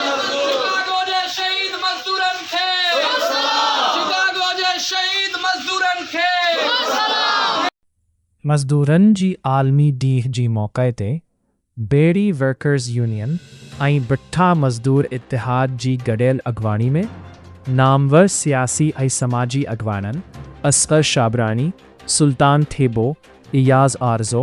Chicago جي شهيد مزدورن کي شڪاگو جي شهيد مزدورن کي. مزدورن جي عالمي ڏينهن جي موقعي تي بيڙي ورڪرز يونين ۽ بٺا مزدور اتحاد جي گڏيل اڳواڻي ۾ نامور سياسي ۽ سماجي اڳواڻن اصغر شابراڻي، سلطان ٿيٻو، اياز آرزو،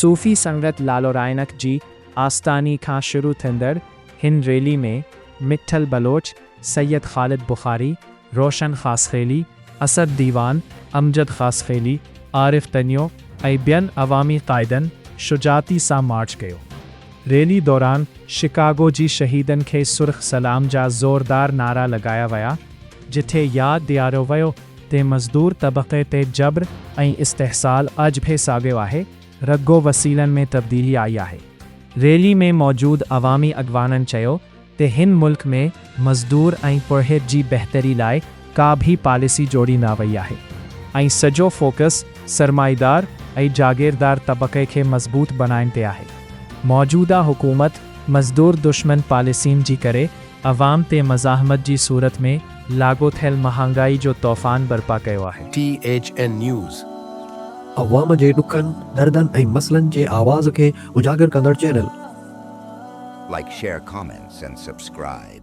صوفي سنگت لالورائڻڪ جي آستاني کان شروع ٿيندڙ هن ريلي ۾ مٺل بلوچ، سيد خالد بخاري، روشن خاصخيلي، اسد ديوان، امجد خاصخيلي، عارف تنيو ۽ ٻين عوامي قائدن شجاعتي سان مارچ ڪيو. ريلي دوران شڪاگو جي شهيدن کي سرخ سلام جا زوردار نعرا لڳايا ويا جتي ياد ڏياريو ويو تي مزدور طبقي تي جبر ۽ استحصال اڄ به ساڳيو آهي، رڳو وسيلن ۾ تبديلي آئي آهي. ريلي ۾ موجود عوامي اڳواڻن چيو ته هن ملڪ ۾ مزدور ۽ پورهيت جي بهتري لاء ڪا به پاليسي جوڙي نه وئي آهي ۽ سڄو فوڪس سرمائيدار ۽ جاگيردار طبقي کي مضبوط بڻائڻ تي آهي. موجوده حڪومت مزدور دشمن پاليسين جي ڪري عوام تي مزاحمت جي صورت ۾ لاڳو ٿيل مهانگائي جو طوفان برپا ڪيو آهي. T H N news. عوام جي ڏکن، دردن ۽ مسئلن جي آواز کي اجاگر ڪندڙ channel. Like share comments and subscribe.